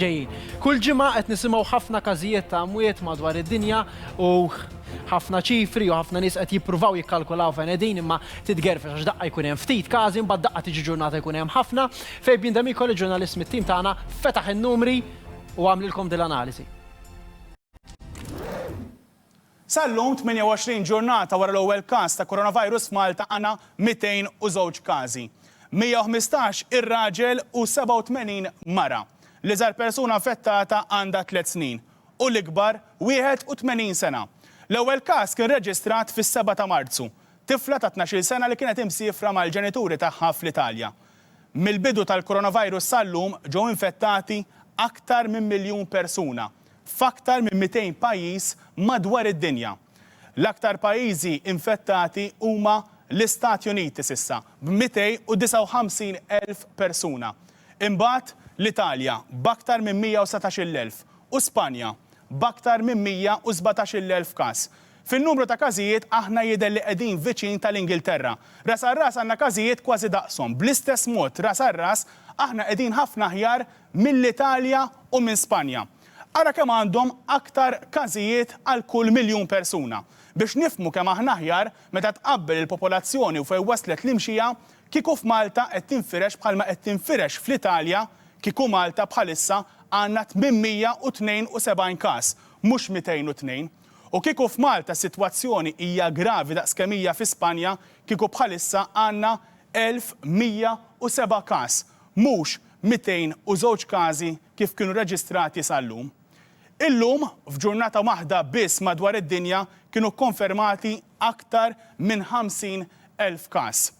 ġejjin. Kull ġimgħa qed nisimgħu ħafna każijiet ta' mwiet madwar id-dinja u ħafna ċifri u ħafna nies qed jippruvaw jikkalkulaw fejn qegħdin imma titgerfex għax daqqa jkun hemm ftit każi mbagħad daqqa tiġi ġurnata jkun hemm ħafna. Fabian D'Amico li ġurnalist mit-tim tagħna fetaħ in-numri u għamlilkom din l-analiżi. Sal-lum, 28 ġurnata wara l-ewwel każ ta' Coronavirus f'Malta għandna 202 każi. 115 ir-raġel u 87 mara. L-iżgħar persuna infettata għandha tliet snin u l-ikbar 81 sena. L-ewwel każ kien reġistrat fis-seba' ta' Marzu, tifla ta' tnax-il sena li kienet imsiefra mal-ġenituri tagħha fl-Italja. Mill-bidu tal-Coronavirus sal-lum ġew infettati aktar minn miljun persuna. f'aktar minn 200 pajjiż madwar id-dinja. L-aktar pajjiżi infettati huma l-Istati Uniti s'issa b'259,000 persuna, imbagħad l-Italja b'aktar minn 117,000 u Spanja b'aktar minn 117,000 każ. Fin-numru ta' każijiet aħna jidher li qegħdin viċin tal-Ingilterra. Ras għal ras għandna każijiet kważi daqshom. Bl-istess mod ras għal ras aħna qegħdin ħafna aħjar mill-Italja u minn Spanja. Ara kemm għandhom aktar każijiet għal kull miljun persuna. Biex nifhmu kemm aħna aħjar meta tqabbel il-popolazzjoni u fejn waslet l-imxija, kieku f'Malta qed tinfirex bħalma qed tinfirex fl-Italja, kieku Malta bħalissa għandna 872 każ, mhux 202. U kieku f'Malta s-sitwazzjoni hija gravi daqskemm hija fi Spanja, kieku bħalissa għandna 1107 każ, mhux 202 każi kif kienu reġistrati sal-lum. Illum, f'ġurnata waħda biss madwar id-dinja kienu kkonfermati aktar minn 50,000 każ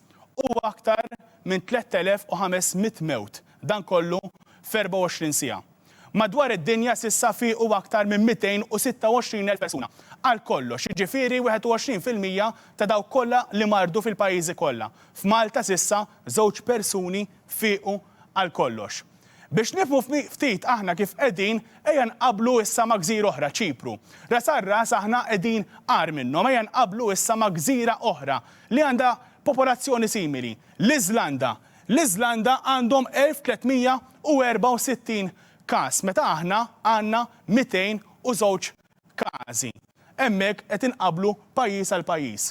u aktar minn 3,500 mewt, dan kollu f'24 siegħa. Madwar id-dinja s'issa fiequ aktar minn 226,000 persuna għal kollox, jiġifieri 21 fil-mija ta' dawk kollha li mardu fil-pajjiżi kollha. F'Malta s'issa żewġ persuni fiequ għal kollox. Biex nifhmu ftit aħna kif qegħdin, ejja nqabblu issa ma' gżira oħra, Ċipru. Ras għal ras aħna qegħdin agħar minnhom. Ejja nqabblu issa ma' gżira oħra li għandha popolazzjoni simili, l-Iżlanda. L-Iżlanda għandhom 1,364 każ meta aħna għandna 202 każi. Hemmhekk qed inqabblu pajjiż għal pajjiż.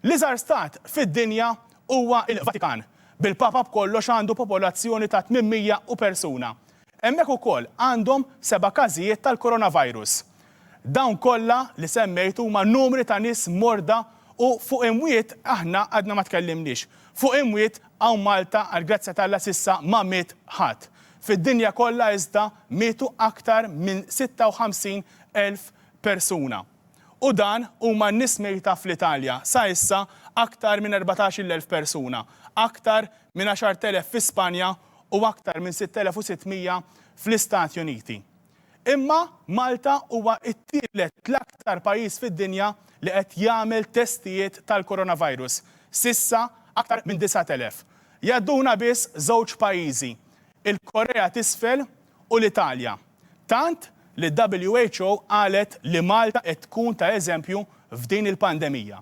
L-iżgħar stat fid-dinja huwa l-Vatikan, bil-Papa b'kollox għandu popolazzjoni ta' 800 u persuna. Hemmhekk ukoll għandhom seba' każijiet tal-Coronavirus. Dawn kollha li semmejt huma numri ta' nies morda u fuq imwiet aħna għadna ma tkellimniex. Fuq imwiet hawn Malta għall-grazzja t'Alla s'issa ma miet ħadd. Fid-dinja kollha iżda mietu aktar minn 56 elf persuna. U dan huma n-nies mejta fl-Italja, sa issa aktar minn 14-il elf persuna, aktar minn 10 elef fi Spanja u aktar minn 6,600 fl-Istati Uniti. Imma Malta huwa t-tielet l-aktar pajjiż fid-dinja li qed jagħmel testijiet tal-coronavirus, s'issa aktar minn 9,000. Jgħadduna biss żewġ pajjiżi, il-Korea t'Isfel u l-Italja. Tant li l-WHO qalet li Malta qed tkun ta' eżempju f'din il-pandemija.